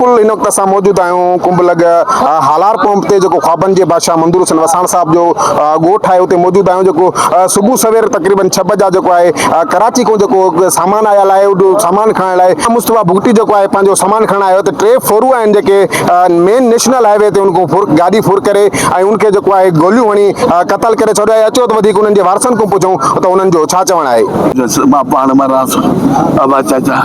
بلڪل هن وقت اسان موجود آهيون ڪنڀ لڳ هالار پمپ تي جيڪو خوابن جي بادشاهه منظور حسين وساڻ صاحب جو ڳوٺ آهي اتي موجود آهيون جيڪو صبح سوير تقريبن ڇهه بجا جيڪو آهي ڪراچي کان جيڪو سامان آيل آهي اهو سامان کڻڻ لاء مصطفيٰ بگٽي جيڪو آهي پنهنجو سامان کڻڻ آيو ته ٽي ڦورون آهن جيڪي مين نيشنل هاء وي تي ان کان ڦر گاڏي ڦر ڪري ۽ ان کي جيڪو آهي گوليون هڻي قتل ڪري ڇڏيو آهي اچو ته وڌيڪ انهن جي وارثن کان پڇون ته انهن جو ڇا چوڻ آهي. مان پاڻ مان رهان ٿو ابا چاچا.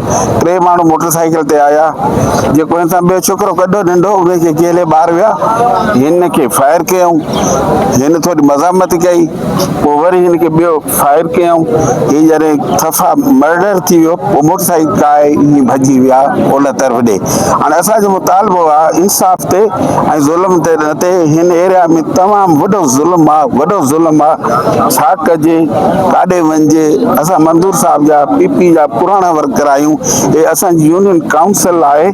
ٽي ماڻهو موٽر سائيڪل تي آيا جيڪو هن سان ٻيو ڇوڪرو گڏ ننڍو ان کي ڪيلي ٻاهر ويا هن کي فائر ڪيائون هن ٿوري مزاحمت ڪئي پوء وري هن کي ٻيو فائر ڪيائون هي جڏهن صفا مرڊر ٿي ويو پوء موٽر سائيڪل ڪاهي هي ڀڄي ويا اولهه طرف ڏي هاڻي اسان جو مطالبو آهي انصاف تي ۽ ظلم تي اتي هن ايريا ۾ تمام وڏو ظلم آ وڏو ظلم آ ڇا ڪجي ڪاڏي وڃجي اسان منظور صاحب جا پي پي جا پراڻا ورڪر آهيون هي اسان جي يونين ڪائونسل آهي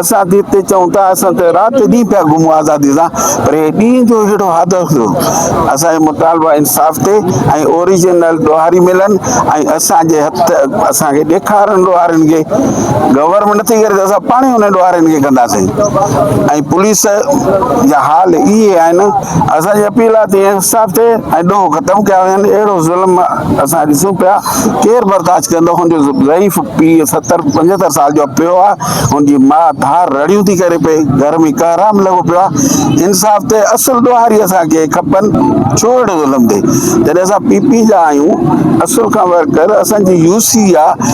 اسان تي تي چون ٿا اسان ته رات ڏينهن پيا گهمون آزادي سان پر هي ڏينهن جو هيڙو حادثو ٿيو اسان جو مطالبه انصاف تي ۽ اوريجنل ڏوهاري ملن ۽ اسان جي هٿ اسان کي ڏيکارن ڏوهارين کي گورنمينٽ ٿي ڪري ته اسان پاڻ ئي انهن ڏوهارين کي ڪنداسين ۽ پوليس جا حال اهي آهن اسان جي اپيل آهي ته انصاف ٿئي ۽ ڏوهه ختم ڪيا وڃن اهڙو ظلم اسان ڏسون پيا ڪير برداشت ڪندو هن جو ضعيف پيء ستر پنجهتر سال جو پيو آهي هن جي ماء ڌار رڙيون ٿي ڪري پئي گهر ۾ ڪهرام لڳو پيو آهي انصاف ٿئي اصل ڏوهاري اسان کي کپن ڇو اهڙو ظلم ٿئي جڏهن اسان پي پي جا آهيون اصل کان ورڪر اسان جي يو سي آهي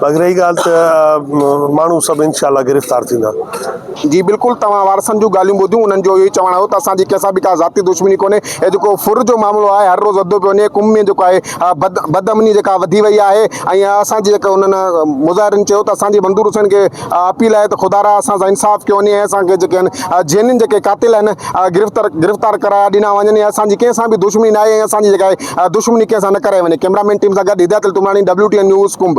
باقي رهي ڳالهه ته ماڻهو سڀ انشاء الله گرفتار ٿيندا. جي بلڪل توهان وارثن جون ڳالهيون ٻڌيون انهن جو اهو ئي چوڻ هو ته اسان جي ڪنهن سان به ڪا ذاتي دشمني ڪونهي هي جيڪو ڦر جو معاملو آهي هر روز وڌندو پيو وڃي قوم ۾ جيڪو آهي بد بد امني جيڪا وڌي وئي آهي ۽ اسان جي جيڪا انهن مظاهرين چيو ته اسان جي منظور حسين کي اپيل آهي ته خدارا اسان سان انصاف ڪيو وڃي ۽ اسان کي جيڪي آهن جينين جيڪي قاتل آهن گرفتار گرفتار ڪرايا ڏنا وڃن ۽ اسان جي ڪنهن سان به دشمني ناهي ۽ اسان جي جيڪا آهي دشمني ڪنهن سان نه ڪرائي وڃي ڪئميرا مين ٽيم سان گڏ هدايت علي تمراڻي WTN نيوز ڪنب.